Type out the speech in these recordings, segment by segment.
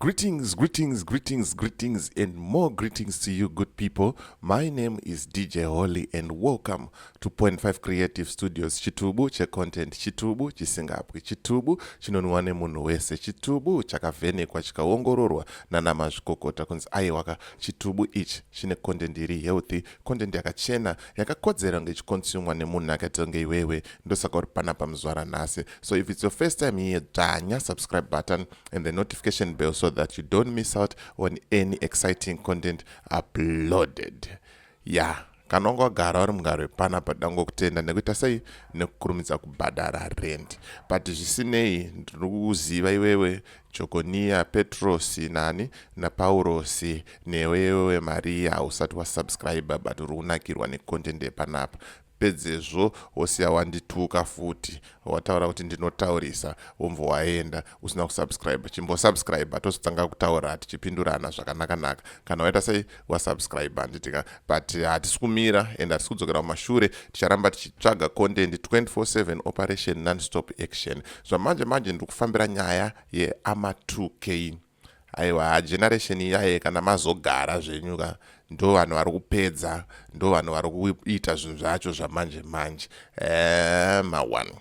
Greetings, greetings, greetings, greetings, and more greetings to you, good people. My name is DJ Holly, and welcome to Point Five Creative Studios. Chitubu che content, chitubu chisingabwi, chitubu chinonwiwa nemunhu wese, chitubu chakavhenekwa chikaongororwa nana mazvikokota kunzi aiwaka chitubu ichi chine content iri healthy, content yakachena, yakakodzera kunge ichikonsumwa nemunhu akaita kunge iwewe. Ndosaka uri panapa muzvara nhasi. So if it's your first time here, dzvanya subscribe button. and the notification bell so that you don't miss out on any exciting content uploaded yeah kana wanga wagara uri mugaro wepana padango kutenda nekuita sei nekukurumidza kubhadhara rent but zvisinei ndiri kuziva iwewe jokoniya petrosi nani napaurosi newewe mariya hausati wasubscribe but uri kunakirwa necontent yepanapa Pedzezvo wosiya wandituka futi wataura kuti ndinotaurisa womva waenda usina kusubscribe. Chimbosubscriber tozotanga kutaura tichipindurana zvakanaka naka. Kana waita sei wasubscribe handitika but hatisi kumira and hatisi kudzokera kumashure ticharamba tichitsvaga content 24/7 operation nonstop action. Zvamanje manje ndiri kufambira nyaya yeAma2K. aiwa generation iyaye kana mazogara zvenyu ka ndo vanhu vari kupedza ndo vanhu vari kuita zvinhu zvacho zvamanje manje eh, mawani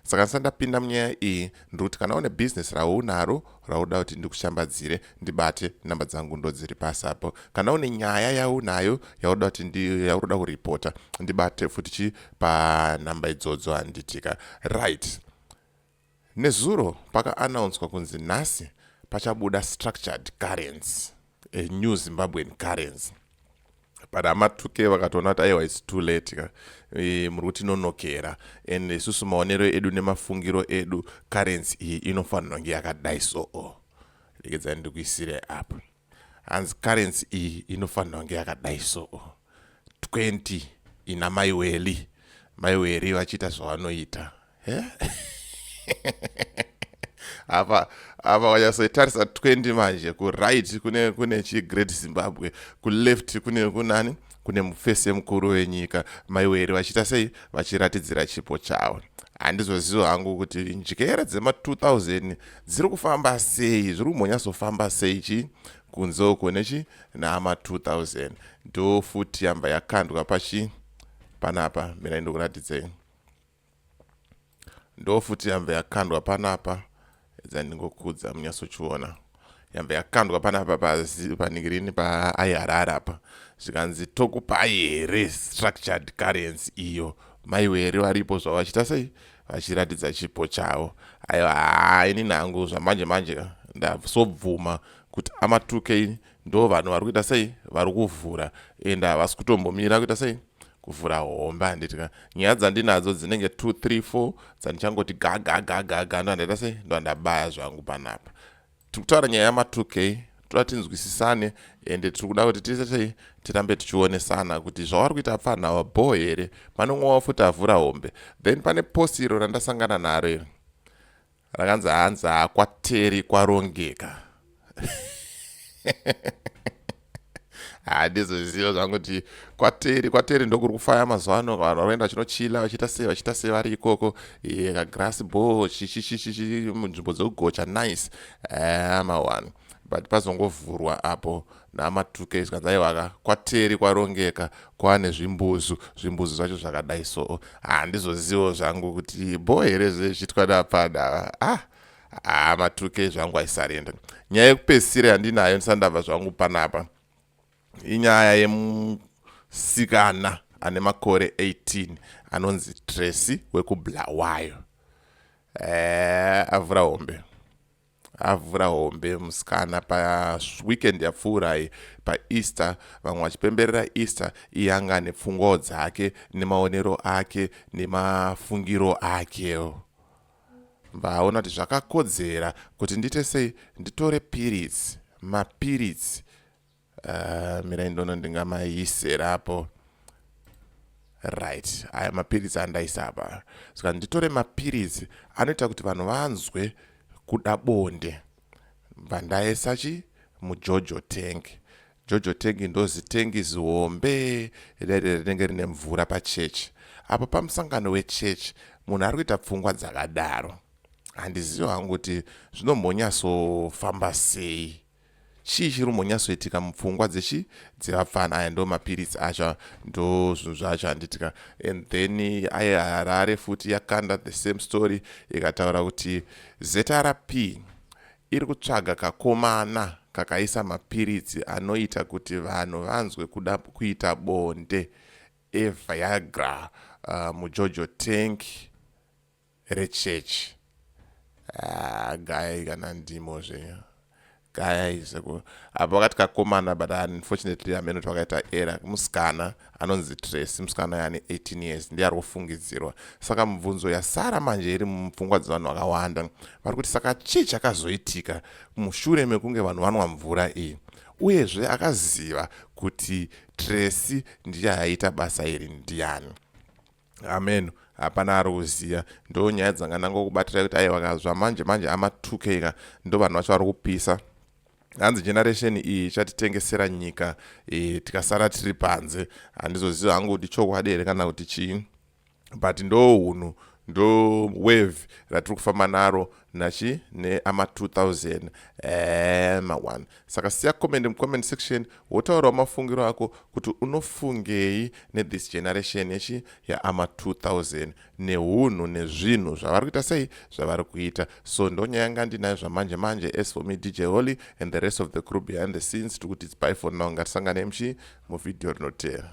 saka ndisati ndapinda munyaya iyi ndiri kuti kana une bhizinesi raunaro rauda kuti ndikushambadzire ndibate namba dzangu ndo dziri pasi apo kana une nyaya yaunayo yauda kuti yauroda kuripota ndibate futi chi panhamba idzodzo handitika right Nezuro paka announcwa kunzi nhasi pachabuda structured currency, a new Zimbabwean currency. But amatuke vakatoona kuti aiwa it's too late ka e, muri kutinonokera and isusu maonero edu nemafungiro edu currency iyi inofanirwa kunge yakadai so o. Regedzai ndikuisire apo. hanzi currency iyi inofanira kunge yakadai so 20 ina mai weli mai weli vachiita zvavanoita apa apa wanyasoitarisa 20 manje kuright kune kune chigreat zimbabwe kuleft kune kunani kune mufese mukuru wenyika maiweri vachiita sei vachiratidzira chipo chavo handizoziva hangu kuti njere dzema 2000 dziri kufamba sei zviri kumbonyatsofamba sei chii kunze uko nechi naama 2000 ndo futi yamba yakandwa pachi panapa mina ndokuratidzei ndofuti yamve yakandwa panapa edza ndingokudza munyatsochiona yamve yakandwa panapa panigirini paaiharara apa zvikanzi tokupai here structured currency iyo maiwere varipo zvavo vachiita sei vachiratidza chipo chavo aiwa haa ini nangu zvamanje manje ndasobvuma kuti amatuke ndo vanhu vari kuita sei vari kuvhura and havasi kutombomira kuita sei kuvhura homba handiti ka nyaya dzandinadzo dzinenge 2 3 4 dzandichangoti gagagagaga ndo handaita sei ndo handabaya zvangu panapa tiri kutaura nyaya yama 2 k toda tinzwisisane ende tiri kuda kuti tise sei tirambe tichionesana kuti zvavari kuita apfanha ava bho here panomwe wavo futi avhura hombe then pane posi iro randasangana naro iri rakanzi hanzi hakwateri kwarongeka handizoziva zvangu kuti kwateri kwateri ndokuri kufaya mazuva ano vanhu vanoenda vachinochila vachiita sei vachiita sei vari ikoko eh, kagrass bo munzvimbo dzekugocha nice eh, ama one but pazongovhurwa apo namatuke izvi kanzi aiwa ka kwateri kwarongeka kwane zvimbuzu zvimbuzu zvacho zvakadai so handizozivo zvangu kuti bho here zvezvitwa napada ah ah matuke zvangu aisarenda nyaya yekupesira yandinayo ndisandava zvangu panapa inyaya yemusikana ane makore 18 anonzi tracy wekublawayo eh, avhura hombe avhura hombe musikana paweekend yapfuurai paeaster vamwe vachipemberera easter iye anga ane pfungwawo dzake nemaonero ake nemafungiro ake vaona kuti zvakakodzera kuti ndiite sei nditore piritsi mapiritsi Uh, mirai ndono ndingamaisera apo right aya mapiritsi andaisa apa saka nditore mapiritsi anoita kuti vanhu vanzwe kuda bonde bva ndaisa chi mujojo tank jojo tank ndozitengi zihombe rere rinenge rine mvura pachechi apo pamusangano wechechi munhu ari kuita pfungwa dzakadaro handizivi hangu kuti zvinombonyasofamba sei Chii chiri kumbonyatsoitika mupfungwa dzechi dzevapfana aya ndo mapiritsi acho ndo zvinhu zvacho handitika and then aye harare futi yakanda the same story ikataura kuti zrp iri kutsvaga kakomana kakaisa mapiritsi anoita kuti vanhu vanzwe kuda kuita bonde eviagra uh, mujojo tank rechechi ah, gayai kana ndimo zvenyu gayai seku apa vakati kakomana but unfortunately ameno kuti vakaita era musikana anonzi tracy musikana yaane 18 years ndiye ari kufungidzirwa saka mubvunzo yasara manje iri mupfungwa dzevanhu vakawanda vari kuti saka chii chakazoitika mushure mekunge vanhu vanwa mvura iyi uyezve akaziva kuti tracy ndiye aiita basa iri ndiani amen hapana ari kuziva ndo nyaya dzanga ndangokubatira kuti aiwa ka zvamanje manje ama 2 k ka ndo vanhu vacho vari kupisa hanzi generation iyi ichatitengesera nyika e, tikasara tiri panze handizoziva hangu kuti chokwadi here kana kuti chii but ndo unhu ndo wave ratiri kufamba naro nachi neama 2000 ee ma one saka siya comment mucomment section wotaurawo mafungiro ako kuti unofungei nethis generation yechi yaama 2000 neunhu nezvinhu zvavari kuita sei zvavari kuita so ndonyaya yanga ndinayo zvamanje manje as for me dj holy and the rest of the crew behind the scenes tiri kuti its by for now ngatisangane mchi muvhidhiyo rinoteera